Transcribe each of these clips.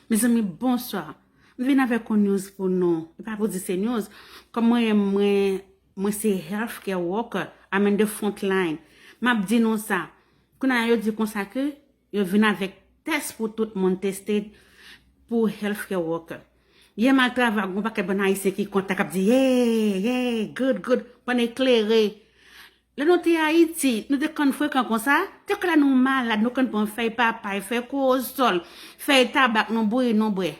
Mezanmi bonswa, m vin avèk yon news pou nou, e pa pou di se news, kòm mwen menm mwen se health care worker, I'm in the front line, m ap di nou sa, kounye a yo di konsa ke yo vin avèk tès pou tout moun tested pou health care worker. Yè m al travay, gen yon pakèt bann ayisyen ki kontan k ap di yey, yey, good, good, pandan yo klere Lè nou te Ayiti, nou te konn frekan konsa? Te konn lè nou malad, nou konn pran fèy papay, fèy kowosòl, fèy tabak nou bouyi, nou bwè.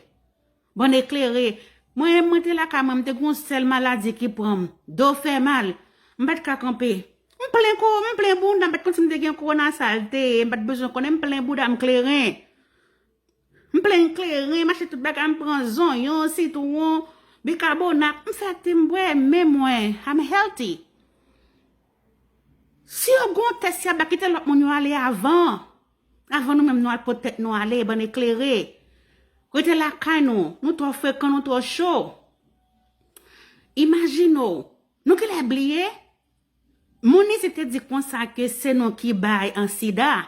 Bann eklere, mwen menm mwen te lakay mwen, m te gen yon sèl maladi ki pran m, do fè mal. M pa t ka kanpe. M plen ko, m plen bounda, m pa t konn si m te gen kowona, sa l te ye, m pa t bezwen konnen, m plen bouda m kleren. M plen kleren, m achte tout bagay, m pran zonyon, sitwon, bikabonat, m fè te m bwè, men mwen, I'm healthy. Si yo gon tès yap ba kite lòt moun yo ale avan, avan nou menm nou al pot tèt nou ale bann eklere. Rete lakay nou, nou twò frekan, nou twò cho. Imajine w, nou genlè bliye Moun isit te di konsa ke se nou ki bay an sida.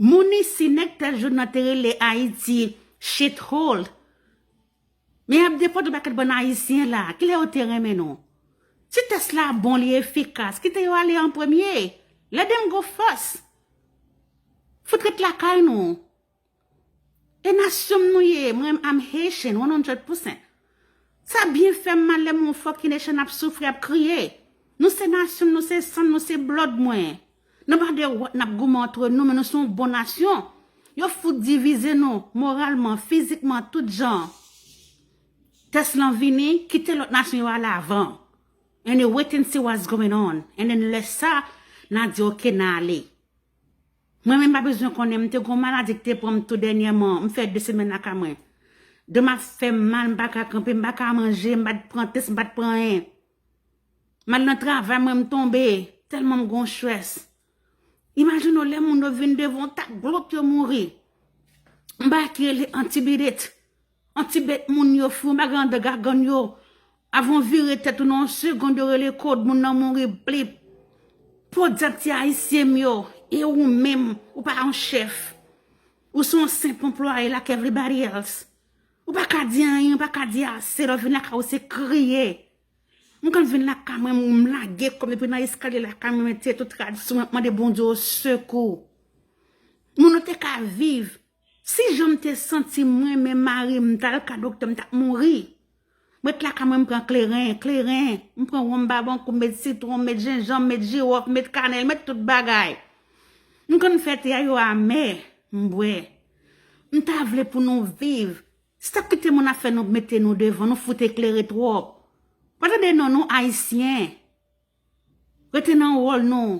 Moun isi nèg tèt joun nan te rele Ayiti shit hole. Men yap defann yon pakèt bann ayisyen la. Kilè yo te renmen nou? Si tès la bon li efikas, kite yo ale an premye. Let them go first. Fout ret lakay nou. E nasyon m nou ye m renmn I'm Haitian one hundred percent sa byen fèm mal lèm wè yon fucking Haitian ap soufri ap kriye nou se nasyon m nou se san m nou se blood mwen nan pa de wòt nap goumen antre nou men nou se yon bon nasyon yo fout divize nou moralman fizikman tout jan tès lan vini kite lòt nasyon yo ale avan and wait and see what's going on and then lè sa na di ok na ale. Mwen menm pa bezwen konnen m te gon maladi ki te pran m tou dènyèman m fè 2 semèn lakay mwen do m ap fè m mal m pa ka kanpe m pa ka manje m pa t pran tès m pa t pran anyen m al nan travay mwen m tonbe tèlman m gon chrès imajine w lè moun yo vin devan w tak glòt yo mouri m bay ki rele antibirit. An ti bet moun yo fou yon bagay andan gagann yo avan w vire tèt ou nan yon segond yo rele kod moun nan mouri blip podyab ti ayisyen m yo e ou menm ou pa yon chèf ou se yon senp anplwaye like everybody else ou pa ka di anyen ou pa ka di ase lè w vin lakay ou se kriye m konn vin lakay mwen m lage kò m depi nan eskalye lakay mwen mwen tye tout rad sou mwen m ap mande Bondye w sekou moun nou te ka viv Si jan m te santi m renmen mari m m t al ka doktè m t ap mouri m ret lakay mwen m pran kleren kleren m pran wonm babankou m met sitwon m met jenjanm m met jiwòf m met kanèl m met tout bagay m konn fè te a yo amè m bwè m ta vle pou nou viv se t ap kite moun ap fè nou mete nou devan nou fout eklere twòp pa tande non nou ayisyen rete nan wòl nou.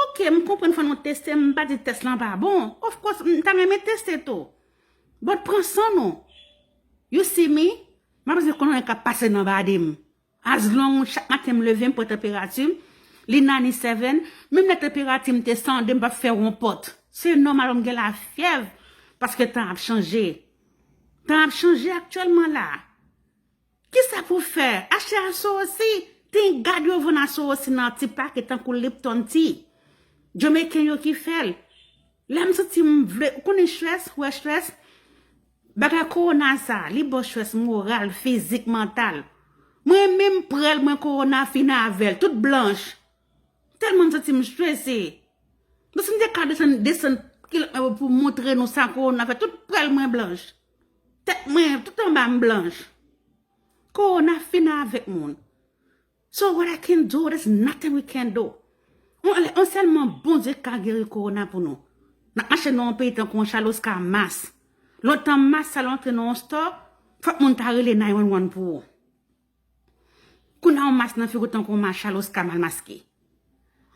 Ok m konprann fò nou teste m pa di test lan pa bon of course m ta renmen teste tou but pran san nou you see me m pa bezwen konn anyen kap pase nan body m as long chak maten m leve m pran tanperati m li 97 menm lè tanperati m te 102 m pap fè ronpòt se nòmal pou m gen lafyèv paske tan ap chanje tan ap chanje aktyèlman la. Kisa pou fè? Achte asowosi! Tin gad yo vann asowosi nan ti pake tankou Lipton Tea. Jamaican yo ki fè l. Lè m santi m vle, ou konnen Schweppes, ou wè Schweppes? Bagay Corona sa, li ba w Schweppes moral, fizik, mantal. Mwen menm m pre l mwen Corona fin avè l, tout blanch. Tèlman m santi m strese. Bon si m te ka desann kilòt mwen pou moutre nou sa Corona fè, tout prèl mwen blanch. Tèt mwen tout anba m blanch. Kowona fin avèk moun. So what I can do, there's nothing we can do. On sèlman Bondye ka geri kowona pou nou. N ap mache nan yon peyi tankou yon chal oska mas. Lontan mas sa al antre nan yon store, fòk moun ta rele 911 pou ou. Kou nan w mas nan figou tankou w machal oska mal maske.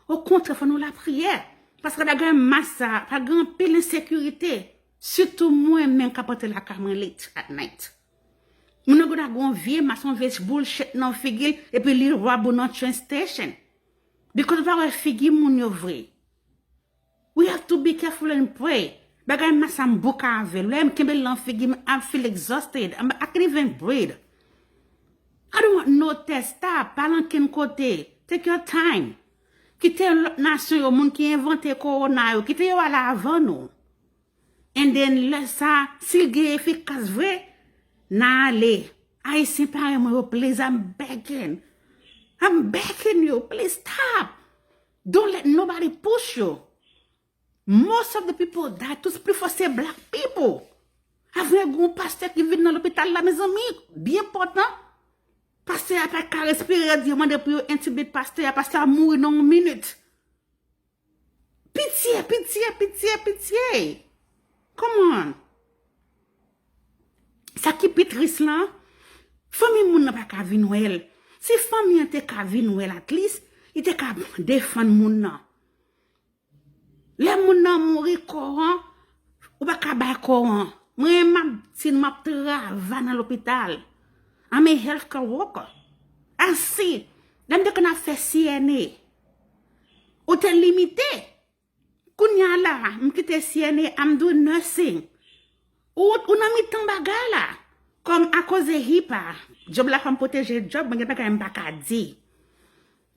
O kontrè fò nou lapriyè. Paske la gen mas sa a, pa gen anpil ensekirite. Sitou mwen menm kap antre lakay mwen late at night. Moun nan gen dwa gen yon vye mas, yon vye bullshit nan figi l epi li rob ou nan train station. Bikòz ou pa wè figi moun yo vre. We have to be careful and pray Bagay ma sa m boka avel Lè m kenbel lan figi m I feel exhausted I can't even breathe I don't want no test Stop pa al ankenn kote Take your time Kite lòt nasyon yo moun ki envante korona yo kite yo al avan nou And then lè sa si l gen efikas vre n a ale Ayisyen parèy mwen yo please I'm begging I'm begging you please stop. Don't let nobody push you. Most of the people die tous pli fò se black people. Avwe gen yon pastè ki vin nan lopital la mezanmi, byen pòtan. Pastè a pa ka respire yo di yo mande pou yo intubate pastè a, pastè a mouri nan yon minit. Pitye, pitye, pitye, pitye. Come on. Sa ki pi tris lan, fanmi moun nan pa ka vin wè l. Si fanmi an te ka vin wè l atlis, li te ka defann moun nan. Lè moun nan mouri, kò an, ou pa ka bay kò an. Mwen menm m ap di nou, m ap travay nan lopital. I'm a health care worker. Asi, lè m te konn ap fè CNA, ou te limite. Kounya la m kite CNA I'm doing nursing Ou nan mitan bagay la Kòm a koze HIPAA Djob la fè m pwoteje djob mwen gen bagay m pa ka di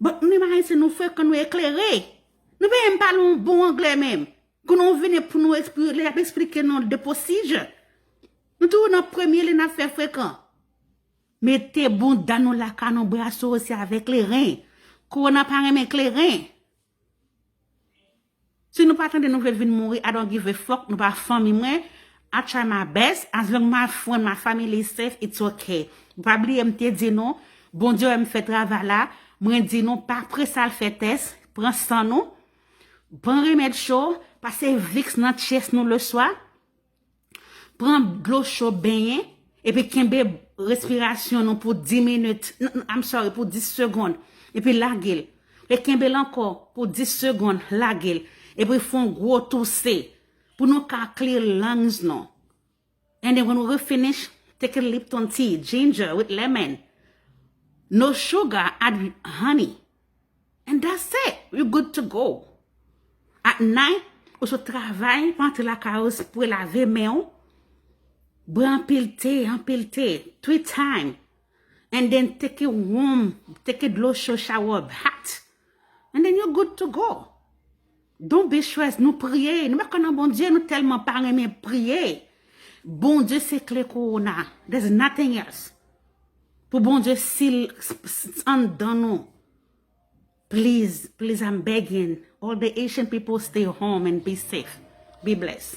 But nou menm Ayisyen nou frekan nou eklere Nou pa menm pale yon bon anglè menm Kou nou vini pou nou lè y ap esplike nou the procedure Nou toujou nan premye lè n ap fè frekan Mete bounda nou la ka nou braso se avè kleren Kowona pa renmen kleren Si nou pa tande nou vle vin mouri I don't give a fuck nou pa fanmi mwen I try my best as long my friend my family is safe it's ok Nou pa bliye m te di nou Bondye wè m fè travay la mwen di nou pa prese al fè tès pran san nou pran remèd cho pase vicks nan chest nou le swa Pran dlo cho benyen epi kenbe respirasyon nou pou 10 minit, I'm sorry pou 10 segond epi lage l. E kenbe l ankò pou 10 segond, lage l. Epi fè yon gwo touse pou nou ka clear lungs nou. And then when we finish, take a lipton tea, ginger with lemon. No sugar, add honey. And that's it, you good to go. At night, ou sot travay, ou antre lakay ou, se pou lave men ou, bwè anpil te, anpil te, three time, and then teke wom, teke dlo cho, shower bath, and then you good to go. Don Besjoez nou priye nou pa kwè nan Bondye nou telman pa renmen priye Bondye se kle korona there's nothing else pou Bondye sil anndan nou please please I'm begging all the Haitian people stay home and be safe be bless.